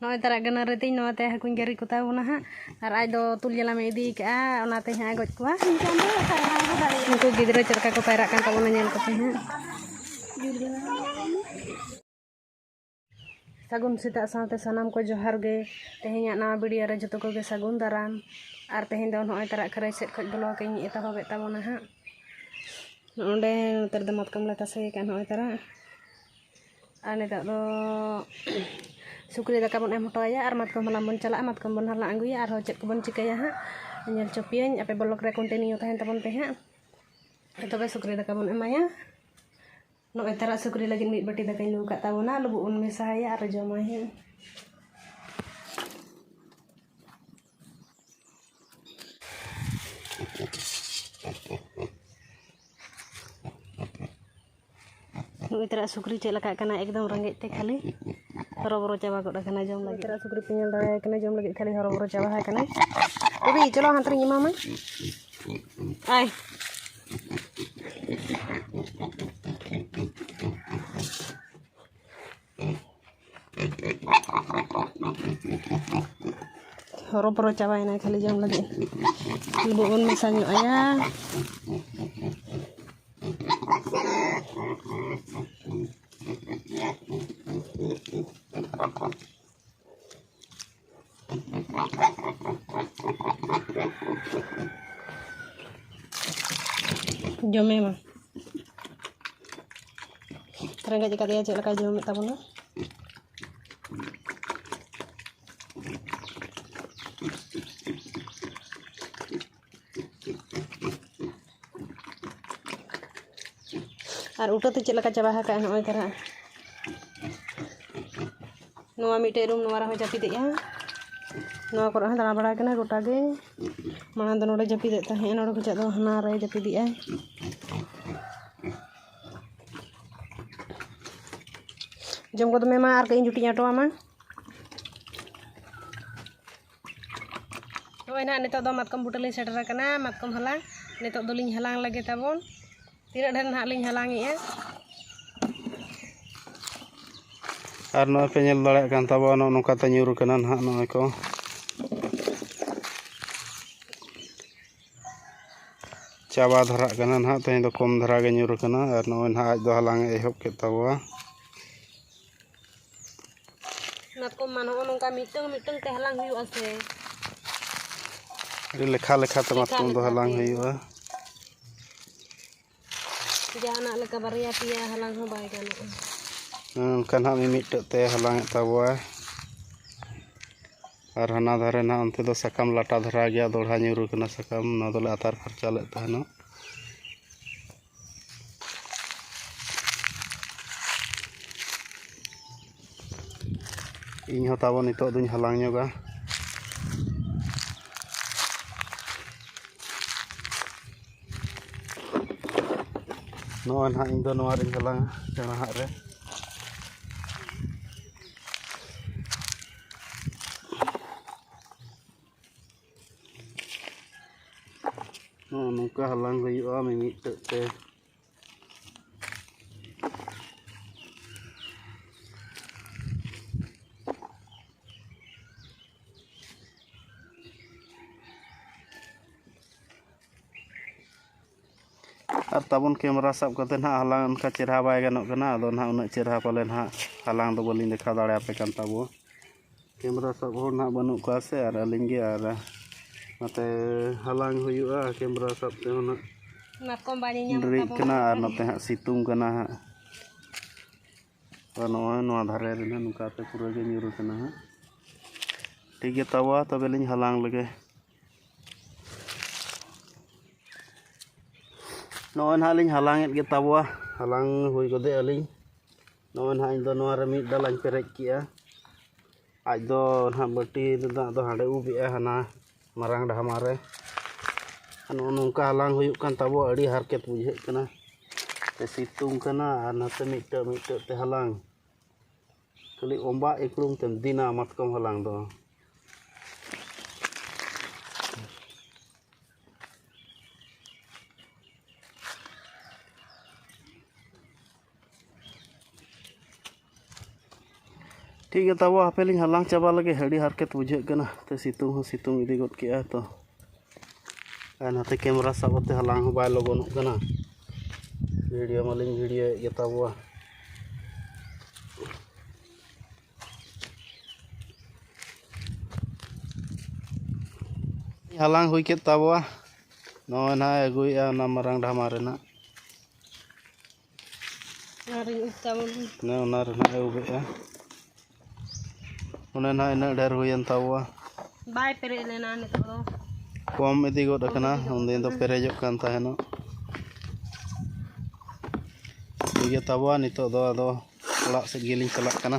ᱱᱚᱜᱼᱚᱸᱭ ᱛᱟᱨᱟᱜ ᱜᱟᱹᱱᱟᱹᱨᱤ ᱛᱤᱧ ᱱᱚᱣᱟ ᱛᱮ ᱦᱟᱹᱠᱩᱧ ᱜᱮᱨᱮ ᱠᱚᱛᱟ ᱵᱚᱱᱟ ᱦᱟᱸᱜ ᱟᱨ ᱟᱡ ᱫᱚ ᱛᱩᱞ ᱡᱟᱞᱟᱢᱮ ᱤᱫᱤ ᱠᱟᱜᱼᱟ ᱚᱱᱟ ᱛᱮ ᱦᱟᱸᱜ ᱮ ᱜᱚᱡ ᱠᱚᱣᱟ ᱩᱱᱠᱩ ᱜᱤᱫᱽᱨᱟᱹ ᱪᱮᱫ ᱞᱮᱠᱟ ᱠᱚ ᱯᱟᱭᱨᱟᱜ ᱠᱟᱱ ᱛᱟᱵᱚᱱᱟ ᱧᱮᱞ ᱠᱚᱯᱮ ᱦᱟᱸᱜ ᱥᱟᱹᱜᱩᱱ ᱥᱮᱛᱟᱜ ᱥᱟᱶᱛᱮ ᱥᱟᱱᱟᱢ ᱠᱚ ᱡᱚᱦᱟᱨ ᱜᱮ ᱛᱮᱦᱮᱧᱟᱜ ᱱᱟᱣᱟ ᱵᱷᱤᱰᱤᱭᱳ ᱨᱮ ᱡᱚᱛᱚ ᱠᱚᱜᱮ ᱥᱟᱹᱜᱩᱱ ᱫᱟᱨᱟᱢ ᱟᱨ ᱛᱮᱦᱮᱧ ᱫᱚ ᱱᱚᱜᱼᱚᱸᱭ ᱛᱟᱨᱟᱜ ᱠᱷᱟᱹᱨᱟᱹᱭ ᱥᱮᱫ ᱠᱷᱚᱡ ᱵᱞᱚᱜᱽ ᱤᱧ ᱮᱛᱚᱦᱚᱵᱮᱫ ᱛᱟᱵᱚᱱᱟ ᱦᱟᱸᱜ ᱚᱸᱰᱮ ᱱᱚᱛᱮ ᱨᱮᱫᱚ ᱢᱟᱛᱠᱚᱢ ᱞᱮ ᱛᱟᱥᱮ ᱟᱠᱟᱫᱼᱟ ᱱᱚᱜᱼᱚᱸᱭ ᱛᱟᱨᱟᱜ ᱟᱨ ᱱᱤᱛᱚᱜ ᱫᱚ ᱥᱩᱠᱨᱤ ᱫᱟᱠᱟ ᱵᱚᱱ ᱮᱢ ᱦᱚᱴᱚ ᱟᱭᱟ ᱟᱨ ᱢᱟᱛᱠᱚᱢ ᱦᱟᱞᱟᱝ ᱵᱚᱱ ᱪᱟᱞᱟᱜᱼᱟ ᱢᱟᱛᱠᱚᱢ ᱵᱚᱱ ᱦᱟᱞᱟᱝ ᱟᱹᱜᱩᱭᱟ ᱟᱨᱦᱚᱸ ᱪᱮᱫ ᱠᱚᱵᱚᱱ ᱪᱤᱠᱟᱹᱭᱟ ᱦᱟᱸᱜ ᱧᱮᱞ ᱦᱚᱪᱚ ᱯᱮᱭᱟᱹᱧ ᱟᱯᱮ ᱵᱞᱚᱠ ᱨᱮ ᱠᱚᱱᱴᱤᱱᱤᱭᱩ ᱛᱟᱦᱮᱱ ᱛᱟᱵᱚᱱ ᱯᱮ ᱦᱟᱸᱜ ᱛᱚᱵᱮ ᱥᱩᱠᱨᱤ ᱫᱟᱠᱟ ᱵᱚᱱ ᱮᱢᱟᱭᱟ ᱱᱚᱜᱼᱚᱭ ᱛᱟᱨᱟᱜ ᱥᱩᱠᱨᱤ ᱞᱟᱹᱜᱤᱫ ᱢᱤᱫ ᱵᱟᱹᱴᱤ ᱫᱟᱠᱟᱧ ᱞᱩ ᱟᱠᱟᱫ ᱛᱟᱵᱚᱱᱟ ᱞᱩᱵᱩᱜ ᱵᱚᱱ ᱢᱮᱥᱟ ᱟᱭᱟ ᱟᱨ ᱡᱚᱢᱟᱭ ᱦᱟᱸᱜ ᱱᱩᱜᱼᱩᱭ ᱛᱚᱨᱟ ᱥᱩᱠᱨᱤ ᱪᱮᱫ ᱞᱮᱠᱟᱜ ᱠᱟᱱᱟᱭ ᱮᱠᱫᱚᱢ ᱨᱮᱸᱜᱮᱡ ᱛᱮ ᱠᱷᱟᱹᱞᱤ ᱦᱚᱨᱚᱵᱚᱨᱚ ᱪᱟᱵᱟ ᱜᱚᱫ ᱟᱠᱟᱱᱟᱭ ᱡᱚᱢ ᱞᱟᱹᱜᱤᱫ ᱛᱚᱨᱟ ᱥᱩᱠᱨᱤ ᱯᱮ ᱧᱮᱞ ᱫᱟᱲᱮᱭᱟᱭ ᱠᱟᱱᱟ ᱡᱚᱢ ᱞᱟᱹᱜᱤᱫ ᱠᱷᱟᱹᱞᱤ ᱦᱚᱨᱚᱵᱚᱨᱚ ᱪᱟᱵᱟ ᱟᱠᱟᱱᱟᱭ ᱵᱤᱵᱤ ᱪᱚᱞᱚ ᱦᱟᱱᱛᱮ ᱨᱤᱧ ᱮᱢᱟᱢᱟ ᱟᱭ ᱦᱚᱨᱚ ᱵᱚᱨᱚ ᱪᱟᱵᱟᱭᱮᱱᱟᱭ ᱠᱷᱟᱹᱞᱤ ᱡᱚᱢ ᱞᱟᱹᱜᱤᱫ ᱞᱩᱵᱩᱜ ᱵᱚᱱ ᱢᱮᱥᱟ ᱧᱚᱜ ᱟᱭᱟ ᱡᱚᱢᱮ ᱢᱟ ᱨᱮᱸᱜᱮᱡ ᱟᱠᱟᱫᱮᱭᱟ ᱪᱮᱫ ᱞᱮᱠᱟᱭ ᱡᱚᱢᱮᱫ ᱛᱟᱵᱚᱱᱟ ᱟᱨ ᱩᱴᱟᱹ ᱛᱮ ᱪᱮᱫ ᱞᱮᱠᱟ ᱪᱟᱵᱟ ᱟᱠᱟᱫ ᱟᱭ ᱱᱚᱜᱼᱚᱭ ᱛᱟᱨᱟ ᱱᱚᱣᱟ ᱢᱤᱫᱴᱮᱡ ᱨᱩᱢ ᱱᱚᱣᱟ ᱨᱮᱦᱚᱸ ᱡᱟᱹᱯᱤᱫᱮᱜᱼᱟ ᱱᱚᱣᱟ ᱠᱚᱨᱮ ᱦᱚᱸ ᱫᱟᱬᱟ ᱵᱟᱲᱟᱭ ᱠᱟᱱᱟ ᱜᱚᱴᱟ ᱜᱮ ᱢᱟᱲᱟᱝ ᱫᱚ ᱱᱚᱰᱮ ᱡᱟᱹᱯᱤᱫᱮᱫ ᱛᱟᱦᱮᱸᱫ ᱱᱚᱰᱮ ᱠᱷᱚᱱᱟᱜ ᱫᱚ ᱦᱟᱱᱟ ᱨᱮ ᱡᱟᱹᱯᱤᱫᱮᱜᱼᱟᱭ ᱡᱚᱢ ᱠᱚᱫᱚ ᱢᱮ ᱢᱟ ᱟᱨ ᱠᱟᱹᱡ ᱤᱧ ᱡᱩᱴᱤᱧ ᱟᱴᱚᱣᱟᱢᱟ ᱱᱚᱜᱼᱚᱭ ᱱᱟᱦᱟᱜ ᱱᱤᱛᱚᱜ ᱫᱚ ᱢᱟᱛᱠᱚᱢ ᱵᱩᱴᱟᱹ ᱞᱤᱧ ᱥᱮᱴᱮᱨ ᱟᱠᱟᱱᱟ ᱢᱟᱛᱠᱚᱢ ᱦᱟᱞᱟᱝ ᱱᱤᱛᱚᱜ ᱫᱚᱞᱤᱧ ᱦᱟᱞᱟᱝ ᱞᱮᱜᱮ ᱛᱟᱵᱚᱱ ᱛᱤᱱᱟᱹᱜ ᱰᱷᱮᱨ ᱱᱟᱦᱟᱜ ᱞᱤᱧ ᱦᱟᱞᱟᱝ ᱮᱜᱼᱟ ᱟᱨ ᱱᱚᱜᱼᱚᱭ ᱯᱮ ᱧᱮᱞ ᱫᱟᱲᱮᱭᱟᱜ ᱠᱟᱱ ᱛᱟᱵᱚᱱᱟ ᱱᱚᱜᱼᱚ ᱱᱚᱝᱠᱟ ᱛᱮ ᱧᱩᱨ ᱠᱟᱱᱟ ᱱᱟᱦᱟᱜ ᱱᱚᱜᱼᱚᱭ ᱠᱚ ᱪᱟᱵᱟ ᱫᱷᱟᱨᱟᱜ ᱠᱟᱱᱟ ᱱᱟᱦᱟᱜ ᱛᱮᱦᱮᱧ ᱫᱚ ᱠᱚᱢ ᱫᱷᱟᱨᱟ ᱜᱮ ᱧᱩᱨ ᱠᱟᱱᱟ ᱟᱨ ᱱᱚᱜᱼᱚᱭ ᱱᱟᱦᱟᱜ ᱟᱡ ᱫᱚ ᱦᱟᱞᱟᱝ ᱮ ᱮᱦᱚᱵ ᱠᱮᱫ ᱛᱟᱵᱚᱣᱟ ᱢᱟᱛᱠᱚᱢ ᱢᱟ ᱱᱚᱜᱼᱚ ᱱᱚᱝᱠᱟ ᱢᱤᱫᱴᱟᱝ ᱢᱤᱫᱴᱟᱝ ᱛᱮ ᱦᱟᱞᱟᱝ ᱦᱩᱭᱩᱜᱼᱟ ᱥᱮ ᱟᱹᱰᱤ ᱞᱮᱠᱷᱟ ᱞᱮᱠᱷᱟᱛᱮ ᱢᱟᱛᱠᱚᱢ ᱫᱚ ᱦᱟᱞᱟᱝ ᱦᱩᱭᱩᱜᱼᱟ ᱡᱟᱦᱟᱱᱟᱜ ᱞᱮᱠᱟ ᱵᱟᱨᱭᱟ ᱯᱮᱭᱟ ᱦᱟᱞᱟᱝ ᱦᱚᱸ ᱵᱟᱭ ᱜᱟᱱᱚᱜᱼᱟ ᱚᱱᱠᱟ ᱱᱟᱦᱟᱜ ᱢᱤᱢᱤᱫᱴᱮᱡ ᱛᱮ ᱦᱟᱞᱟᱝ ᱮᱫ ᱛᱟᱵᱚᱣᱟ ᱟᱨ ᱦᱟᱱᱟ ᱫᱷᱟᱨᱮ ᱱᱟᱦᱟᱜ ᱚᱱᱛᱮ ᱫᱚ ᱥᱟᱠᱟᱢ ᱞᱟᱴᱟ ᱫᱷᱟᱨᱟ ᱜᱮᱭᱟ ᱫᱚᱲᱦᱟ ᱧᱩᱨᱩ ᱠᱟᱱᱟ ᱥᱟᱠᱟᱢ ᱱᱚᱣᱟ ᱫᱚᱞᱮ ᱟᱛᱟᱨ ᱯᱷᱟᱨᱪᱟ ᱞᱮᱫ ᱛᱟᱦᱮᱱᱚᱜ ᱤᱧ ᱦᱚᱸ ᱛᱟᱵᱚ ᱱᱤᱛᱳᱜ ᱫᱩᱧ ᱦᱟᱞᱟᱝ ᱧᱚᱜᱟ ᱱᱚᱜᱼᱚᱭ ᱱᱟᱦᱟᱜ ᱤᱧ ᱫᱚ ᱱᱚᱣᱟ ᱨᱤᱧ ᱦᱟᱞᱟᱝᱟ ᱥᱮᱬᱟ ᱦᱟᱜ ᱨᱮ ᱱᱚᱜᱼᱚ ᱱᱚᱝᱠᱟ ᱦᱟᱞᱟᱝ ᱦᱩᱭᱩᱜᱼᱟ ᱢᱤᱢᱤᱫᱴᱮᱡ ᱛᱮ ᱟᱨ ᱛᱟᱵᱚᱱ ᱠᱮᱢᱮᱨᱟ ᱥᱟᱵ ᱠᱟᱛᱮ ᱱᱟᱦᱟᱜ ᱦᱟᱞᱟᱝ ᱚᱱᱠᱟ ᱪᱮᱨᱦᱟ ᱵᱟᱭ ᱜᱟᱱᱚᱜ ᱠᱟᱱᱟ ᱟᱫᱚ ᱱᱟᱦᱟᱜ ᱩᱱᱟᱹᱜ ᱪᱮᱨᱦᱟ ᱯᱟᱞᱮ ᱱᱟᱦᱟᱜ ᱦᱟᱞᱟᱝ ᱫᱚ ᱵᱟᱹᱞᱤᱧ ᱫᱮᱠᱷᱟᱣ ᱫᱟᱲᱮᱭᱟᱯᱮ ᱠᱟᱱ ᱛᱟᱵᱚ ᱠᱮᱢᱮᱨᱟ ᱥᱟᱵ ᱦᱚᱲ ᱱᱟᱦᱟᱜ ᱵᱟᱹᱱᱩᱜ ᱠᱚᱣᱟ ᱥᱮ ᱟᱨ ᱟᱹᱞᱤᱧ ᱜᱮ ᱟᱨ ᱱᱚᱛᱮ ᱦᱟᱞᱟᱝ ᱦᱩᱭᱩᱜᱼᱟ ᱠᱮᱢᱮᱨᱟ ᱥᱟᱵ ᱛᱮᱦᱚᱸ ᱱᱟᱦᱟᱜ ᱢᱟᱛᱠᱚᱢ ᱵᱟᱲᱮ ᱧᱟᱢ ᱰᱮᱨᱤᱜ ᱠᱟᱱᱟ ᱟᱨ ᱱᱚᱛᱮ ᱦᱟᱸᱜ ᱥᱤᱛᱩᱝ ᱠᱟᱱᱟ ᱦᱟᱸᱜ ᱟᱨ ᱱᱚᱜᱼᱚᱭ ᱱᱚᱣᱟ ᱫᱷᱟᱨᱮ ᱨᱮ ᱱᱟᱦᱟᱜ ᱱᱚᱝᱠᱟᱛᱮ ᱯᱩᱨᱟᱹ ᱜᱮ ᱧᱩᱨ ᱠᱟᱱᱟ ᱦᱟᱸᱜ ᱴᱷᱤᱠ ᱜᱮ ᱛᱟᱵᱚᱣᱟ ᱛᱚᱵᱮ ᱞᱤᱧ ᱦᱟᱞᱟᱝ ᱞᱮᱜᱮ ᱱᱚᱜᱼᱚᱭ ᱱᱟᱦᱟᱜ ᱞᱤᱧ ᱦᱟᱞᱟᱝᱮᱫ ᱜᱮ ᱛᱟᱵᱚᱣᱟ ᱦᱟᱞᱟᱝ ᱦᱩᱭ ᱜᱚᱫᱮᱜ ᱟᱹᱞᱤᱧ ᱱᱚᱜᱼᱚᱭ ᱱᱟᱦᱟᱜ ᱤᱧᱫᱚ ᱱᱚᱣᱟᱨᱮ ᱢᱤᱫ ᱰᱟᱞᱟᱧ ᱯᱮᱨᱮᱡ ᱠᱮᱫᱼᱟ ᱟᱡ ᱫᱚ ᱱᱟᱦᱟᱜ ᱵᱟᱹᱴᱤ ᱨᱮᱱᱟᱜ ᱫᱚ ᱦᱟᱸᱰᱮ ᱩᱵ ᱮᱫᱟᱭ ᱦᱟᱱᱟ ᱢᱟᱨᱟᱝ ᱰᱷᱟᱢᱟ ᱨᱮ ᱱᱚᱜᱼᱚ ᱱᱚᱝᱠᱟ ᱦᱟᱞᱟᱝ ᱦᱩᱭᱩᱜ ᱠᱟᱱ ᱛᱟᱵᱚᱣᱟ ᱟᱹᱰᱤ ᱦᱟᱨᱠᱮᱛ ᱵᱩᱡᱷᱟᱹᱜ ᱠᱟᱱᱟ ᱛᱮ ᱥᱤᱛᱩᱝ ᱠᱟᱱᱟ ᱟᱨ ᱱᱟᱛᱮ ᱢᱤᱫᱴᱟᱹᱝ ᱢᱤᱫᱴᱟᱹᱝ ᱛᱮ ᱦᱟᱞᱟᱝ ᱠᱷᱟᱹᱞᱤ ᱚᱸᱵᱟ ᱤᱠᱲᱩᱢ ᱛᱮᱢ ᱫᱤᱱᱟ ᱢᱟᱛᱠᱚᱢ ᱦᱟᱞᱟᱝ ᱫᱚ ᱴᱷᱤᱠ ᱜᱮᱭᱟ ᱛᱟᱵᱚ ᱦᱟᱯᱮ ᱞᱤᱧ ᱦᱟᱞᱟᱝ ᱪᱟᱵᱟ ᱞᱮᱜᱮ ᱟᱹᱰᱤ ᱦᱟᱨᱠᱮᱛ ᱵᱩᱡᱷᱟᱹᱜ ᱠᱟᱱᱟ ᱛᱮ ᱥᱤᱛᱩᱝ ᱦᱚᱸ ᱥᱤᱛᱩᱝ ᱤᱫᱤ ᱜᱚᱫ ᱠᱮᱜᱼᱟ ᱛᱚ ᱟᱨ ᱱᱟᱛᱮ ᱠᱮᱢᱮᱨᱟ ᱥᱟᱵ ᱠᱟᱛᱮ ᱦᱟᱞᱟᱝ ᱦᱚᱸ ᱵᱟᱭ ᱞᱚᱜᱚᱱᱚᱜ ᱠᱟᱱᱟ ᱵᱷᱤᱰᱤᱭᱳ ᱢᱟᱞᱤᱧ ᱵᱷᱤᱰᱤᱭᱳᱭᱮᱫ ᱜᱮ ᱛᱟᱵᱚᱣᱟ ᱦᱟᱞᱟᱝ ᱦᱩᱭ ᱠᱮᱫ ᱛᱟᱵᱚᱣᱟ ᱱᱚᱜᱼᱚᱭ ᱱᱟᱦᱟᱜ ᱟᱹᱜᱩᱭᱮᱫᱼᱟ ᱚᱱᱟ ᱢᱟᱨᱟᱝ ᱰᱷᱟᱢᱟ ᱨᱮᱱᱟᱜ ᱚᱱᱮ ᱚᱱᱟ ᱨᱮᱱᱟᱜ ᱮ ᱩᱵᱮᱜᱼᱟ ᱚᱱᱮ ᱱᱟᱜ ᱤᱱᱟᱹᱜ ᱰᱷᱮᱨ ᱦᱩᱭᱮᱱ ᱛᱟᱵᱚᱣᱟ ᱵᱟᱭ ᱯᱮᱨᱮᱡ ᱞᱮᱱᱟ ᱱᱤᱛᱚᱜ ᱫᱚ ᱠᱚᱢ ᱤᱫᱤ ᱜᱚᱫ ᱟᱠᱟᱱᱟ ᱩᱱᱫᱤᱱ ᱫᱚ ᱯᱮᱨᱮᱡᱚᱜ ᱠᱟᱱ ᱛᱟᱦᱮᱱᱚᱜ ᱴᱷᱤᱠ ᱜᱮᱛᱟ ᱵᱚᱣᱟ ᱱᱤᱛᱚᱜ ᱫᱚ ᱟᱫᱚ ᱚᱲᱟᱜ ᱥᱮᱫ ᱜᱮᱞᱤᱧ ᱪᱟᱞᱟᱜ ᱠᱟᱱᱟ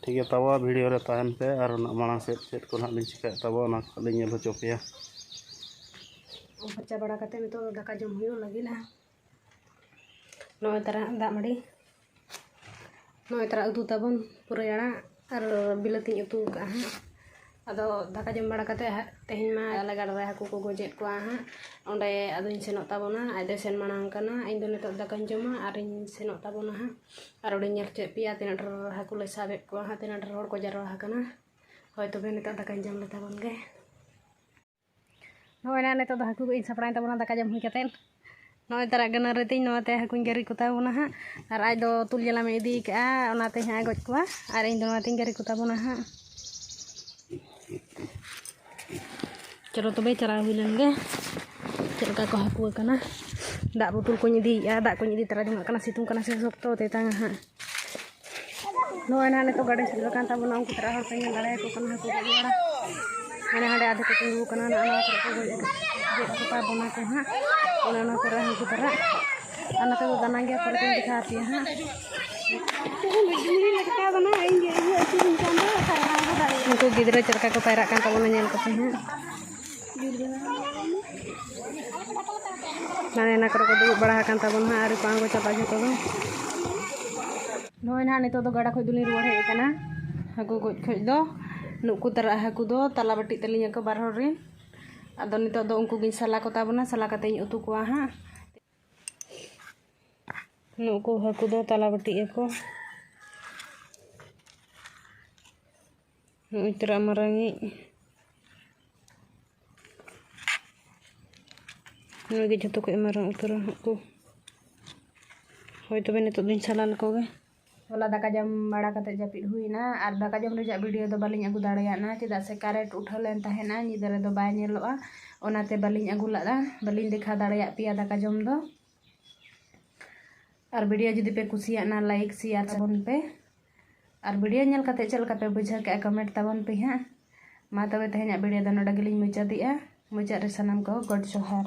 ᱴᱷᱤᱠ ᱜᱮᱭᱟ ᱛᱟᱵᱚ ᱵᱷᱤᱰᱤᱭᱳ ᱨᱮ ᱛᱟᱦᱮᱱ ᱯᱮ ᱟᱨ ᱚᱱᱟ ᱢᱟᱲᱟᱝ ᱥᱮᱫ ᱪᱮᱫ ᱠᱚ ᱱᱟᱦᱟᱜ ᱞᱤᱧ ᱪᱤᱠᱟᱹᱭᱮᱫ ᱛᱟᱵᱚ ᱚᱱᱟ ᱠᱚ ᱞᱤᱧ ᱧᱮᱞ ᱦᱚᱪᱚ ᱯᱮᱭᱟ ᱯᱷᱟᱨᱪᱟ ᱵᱟᱲᱟ ᱠᱟᱛᱮᱫ ᱱᱤᱛᱚᱜ ᱫᱚ ᱫᱟᱠᱟ ᱡᱚᱢ ᱦᱩᱭᱩᱜ ᱞᱟᱹᱜᱤᱫᱼᱟ ᱱᱚᱜᱼᱚᱭ ᱛᱟᱨᱟ ᱫᱟᱜ ᱢᱟᱹᱰᱤ ᱱᱚᱜᱼᱚᱭ ᱛᱟᱨᱟ ᱩᱛᱩ ᱛᱟᱵᱚᱱ ᱯᱩᱨᱟᱹᱭ ᱟᱲᱟᱜ ᱟᱨ ᱵᱤᱞᱟᱹᱛᱤᱧ ᱩᱛᱩ ᱟᱠᱟᱫᱼᱟ ᱦᱟᱸᱜ ᱟᱫᱚ ᱫᱟᱠᱟ ᱡᱚᱢ ᱵᱟᱲᱟ ᱠᱟᱛᱮᱫ ᱦᱟᱸᱜ ᱛᱮᱦᱮᱧ ᱢᱟ ᱟᱞᱮ ᱜᱟᱰᱟ ᱨᱮ ᱦᱟᱹᱠᱩ ᱠᱚ ᱜᱚᱡᱮᱫ ᱠᱚᱣᱟ ᱦᱟᱸᱜ ᱚᱸᱰᱮ ᱟᱫᱚᱧ ᱥᱮᱱᱚᱜ ᱛᱟᱵᱚᱱᱟ ᱟᱡ ᱫᱚᱭ ᱥᱮᱱ ᱢᱟᱲᱟᱝ ᱟᱠᱟᱱᱟ ᱤᱧ ᱫᱚ ᱱᱤᱛᱳᱜ ᱫᱟᱠᱟᱧ ᱡᱚᱢᱟ ᱟᱨᱤᱧ ᱥᱮᱱᱚᱜ ᱛᱟᱵᱚᱱᱟ ᱦᱟᱸᱜ ᱟᱨ ᱚᱸᱰᱮᱧ ᱧᱮᱞ ᱦᱚᱪᱚᱭᱮᱫ ᱯᱮᱭᱟ ᱛᱤᱱᱟᱹᱜ ᱰᱷᱮᱨ ᱦᱟᱹᱠᱩ ᱞᱮ ᱥᱟᱵᱮᱫ ᱠᱚᱣᱟ ᱦᱟᱸᱜ ᱛᱤᱱᱟᱹᱜ ᱰᱷᱮᱨ ᱦᱚᱲ ᱠᱚ ᱡᱟᱨᱣᱟ ᱟᱠᱟᱱᱟ ᱦᱳᱭ ᱛᱚᱵᱮ ᱱᱤᱛᱳᱜ ᱫᱟᱠᱟᱧ ᱡᱚᱢ ᱞᱮ ᱛᱟᱵᱚᱱ ᱜᱮ ᱱᱚᱜᱼᱚᱭ ᱱᱟᱦᱟᱜ ᱱᱤᱛᱳᱜ ᱫᱚ ᱦᱟᱹᱠᱩ ᱠᱚᱧ ᱥᱟᱯᱲᱟᱣᱮᱱ ᱛᱟᱵᱚᱱᱟ ᱫᱟᱠᱟ ᱡᱚᱢ ᱦᱩᱭ ᱠᱟᱛᱮᱫ ᱱᱚᱜᱼᱚᱭ ᱛᱟᱨᱟᱜ ᱜᱟᱹᱱᱟᱹᱨᱤ ᱛᱤᱧ ᱱᱚᱣᱟᱛᱮ ᱦᱟᱹᱠᱩᱧ ᱜᱮᱨᱤ ᱠᱚᱛᱟ ᱵᱚᱱᱟ ᱦᱟᱸᱜ ᱟᱨ ᱟᱡ ᱫᱚ ᱛᱩᱞ ᱡᱟᱞᱟᱢᱮ ᱤᱫᱤ ᱠᱟᱜᱼᱟ ᱚᱱᱟᱛᱮ ᱦᱟᱸᱜ ᱮ ᱜᱚᱡ ᱠᱚᱣᱟ ᱟᱨ ᱤᱧ ᱫᱚ ᱱᱚᱣᱟᱛᱤᱧ ᱜᱮᱨᱤ ᱠᱚᱛᱟ ᱵᱚᱱᱟ ᱦᱟᱸᱜ ᱪᱚᱞᱚ ᱛᱚᱵᱮ ᱪᱟᱞᱟᱣ ᱦᱩᱭ ᱞᱮᱱ ᱜᱮ ᱪᱮᱫ ᱞᱮᱠᱟ ᱠᱚ ᱦᱟᱹᱠᱩ ᱟᱠᱟᱱᱟ ᱫᱟᱜ ᱵᱳᱛᱳᱞ ᱠᱚᱧ ᱤᱫᱤᱭᱮᱜᱼᱟ ᱫᱟᱜ ᱠᱚᱧ ᱤᱫᱤ ᱛᱟᱨᱟ ᱡᱚᱱᱟᱜ ᱠᱟᱱᱟ ᱥᱤᱛᱩᱝ ᱠᱟᱱᱟ ᱥᱮ ᱥᱚᱠᱛᱚ ᱛᱮᱛᱟᱝᱟ ᱦᱟᱸᱜ ᱱᱚᱣᱟ ᱱᱟᱦᱟᱜ ᱱᱤᱛᱚᱜ ᱜᱟᱹᱰᱤ ᱥᱮᱴᱮᱨ ᱟᱠᱟᱱ ᱛᱟᱵᱚᱱᱟ ᱩᱱᱠᱩ ᱛᱟᱨᱟ ᱦᱚᱲ ᱯᱮ ᱧᱮᱞ ᱫᱟᱲᱮᱭᱟᱠᱚ ᱠᱟᱱᱟ ᱦᱟᱹᱠᱩ ᱜᱚᱡ ᱵᱟᱲᱟ ᱦᱟᱸᱰᱮ ᱦᱟᱸᱰᱮ ᱟᱫᱷᱮ ᱠᱚ ᱛᱤᱸᱜᱩ ᱟᱠᱟᱱᱟ ᱱᱚᱜᱼᱚ ᱱᱚᱣᱟ ᱠᱚᱨᱮ ᱠᱚ ᱜᱚᱡ ᱜᱮᱫ ᱠᱚᱛᱟ ᱵᱚᱱᱟ ᱠᱚ ᱦᱟᱸᱜ ᱚᱱᱮ ᱚᱱᱟ ᱠᱚᱨᱮ ᱦᱟᱹᱠᱩ ᱛᱟᱨᱟ ᱟᱨ ᱱᱚᱛᱮ ᱫᱚ ᱫᱟᱱᱟ ᱜᱮᱭᱟ ᱯᱚᱨᱮ ᱛᱤᱧ ᱫᱮᱠᱷᱟᱣ ᱟᱯᱮᱭᱟ ᱦᱟᱸᱜ ᱩᱱᱠᱩ ᱜᱤᱫᱽᱨᱟᱹ ᱪᱮᱫ ᱞᱮᱠᱟ ᱠᱚ ᱯᱟᱭᱨᱟᱜ ᱠᱟᱱ ᱛᱟᱵᱚᱱᱟ ᱧᱮᱞ ᱠᱚᱯᱮ ᱦᱟᱸᱜ ᱦᱟᱱᱮ ᱚᱱᱟ ᱠᱚᱨᱮ ᱠᱚ ᱫᱩᱲᱩᱵ ᱵᱟᱲᱟ ᱟᱠᱟᱱ ᱛᱟᱵᱚᱱᱟ ᱟᱹᱣᱨᱤ ᱠᱚ ᱟᱬᱜᱚ ᱪᱟᱵᱟᱜᱼᱟ ᱡᱚᱛᱚ ᱫᱚ ᱱᱚᱜᱼᱚᱭ ᱱᱟᱦᱟᱜ ᱱᱤᱛᱚᱜ ᱫᱚ ᱜᱟᱰᱟ ᱠᱷᱚᱡ ᱫᱚᱞᱤᱧ ᱨᱩᱣᱟᱹᱲ ᱦᱮᱡ ᱟᱠᱟᱱᱟ ᱦᱟᱹᱠᱩ ᱜᱚᱡ ᱠᱷᱚᱡ ᱫᱚ ᱱᱩᱠᱩ ᱛᱟᱨᱟ ᱦᱟᱹᱠᱩ ᱫᱚ ᱛᱟᱞᱟ ᱵᱟᱹᱴᱤᱜ ᱛᱟᱹᱞᱤᱧ ᱟᱠᱚ ᱵᱟᱨ ᱦᱚᱲ ᱨᱮᱱ ᱟᱫᱚ ᱱᱤᱛᱚᱜ ᱫᱚ ᱩᱱᱠᱩ ᱜᱤᱧ ᱥᱟᱞᱟ ᱠᱚᱛᱟ ᱵᱚᱱᱟ ᱥᱟᱞᱟ ᱠᱟᱛᱮᱫ ᱤᱧ ᱩᱛᱩ ᱠᱚᱣᱟ ᱦᱟᱸᱜ ᱱᱩᱠᱩ ᱦᱟᱹᱠᱩ ᱫᱚ ᱛᱟᱞᱟ ᱵᱟᱹᱴᱤᱜ ᱟᱠᱚ ᱱᱩᱭ ᱛᱚᱨᱟ ᱢᱟᱨᱟᱝᱤᱡ ᱱᱩᱭ ᱜᱮ ᱡᱷᱚᱛᱚ ᱠᱷᱚᱡ ᱢᱟᱨᱟᱝ ᱩᱛᱟᱹᱨᱟ ᱦᱟᱸᱜ ᱠᱚ ᱦᱳᱭ ᱛᱚᱵᱮ ᱱᱤᱛᱳᱜ ᱫᱚᱧ ᱥᱟᱞᱟ ᱞᱮᱠᱚ ᱜᱮ ᱦᱚᱞᱟ ᱫᱟᱠᱟ ᱡᱚᱢ ᱵᱟᱲᱟ ᱠᱟᱛᱮ ᱡᱟᱹᱯᱤᱫ ᱦᱩᱭᱱᱟ ᱟᱨ ᱫᱟᱠᱟ ᱡᱚᱢ ᱨᱮᱭᱟᱜ ᱵᱷᱤᱰᱤᱭᱳ ᱫᱚ ᱵᱟᱹᱞᱤᱧ ᱟᱹᱜᱩ ᱫᱟᱲᱮᱭᱟᱫᱼᱟ ᱪᱮᱫᱟᱜ ᱥᱮ ᱠᱟᱨᱮᱱᱴ ᱩᱴᱷᱟᱹᱣ ᱞᱮᱱ ᱛᱟᱦᱮᱱᱟ ᱧᱤᱫᱟᱹ ᱨᱮᱫᱚ ᱵᱟᱭ ᱧᱮᱞᱚᱜᱼᱟ ᱚᱱᱟᱛᱮ ᱵᱟᱹᱞᱤᱧ ᱟᱹᱜᱩ ᱞᱮᱫᱼᱟ ᱵᱟᱹᱞᱤᱧ ᱫᱮᱠᱷᱟᱣ ᱫᱟᱲᱮᱭᱟᱫ ᱯᱮᱭᱟ ᱫᱟᱠᱟ ᱡᱚᱢ ᱫᱚ ᱟᱨ ᱵᱷᱤᱰᱤᱭᱳ ᱡᱩᱫᱤ ᱯᱮ ᱠᱩᱥᱤᱭᱟᱜᱼᱟ ᱞᱟᱭᱤᱠ ᱥᱮᱭᱟᱨ ᱛᱟᱵᱚᱱ ᱯᱮ ᱟᱨ ᱵᱷᱤᱰᱤᱭᱳ ᱧᱮᱞ ᱠᱟᱛᱮ ᱪᱮᱫ ᱞᱮᱠᱟ ᱯᱮ ᱵᱩᱡᱷᱟᱹᱣ ᱠᱮᱜᱼᱟ ᱠᱚᱢᱮᱱᱴ ᱛᱟᱵᱚᱱ ᱯᱮ ᱦᱟᱸᱜ ᱢᱟ ᱛᱚᱵᱮ ᱛᱮᱦᱮᱧᱟᱜ ᱵᱷᱤᱰᱤᱭᱳ ᱫᱚ ᱱᱚᱰᱮ ᱜᱮᱞᱤᱧ ᱢᱩᱪᱟᱹᱫᱮᱜᱼᱟ ᱢᱩᱪᱟᱹᱫ ᱨᱮ ᱥᱟᱱᱟᱢ ᱠᱚ ᱜᱚᱰ ᱡᱚᱦᱟᱨ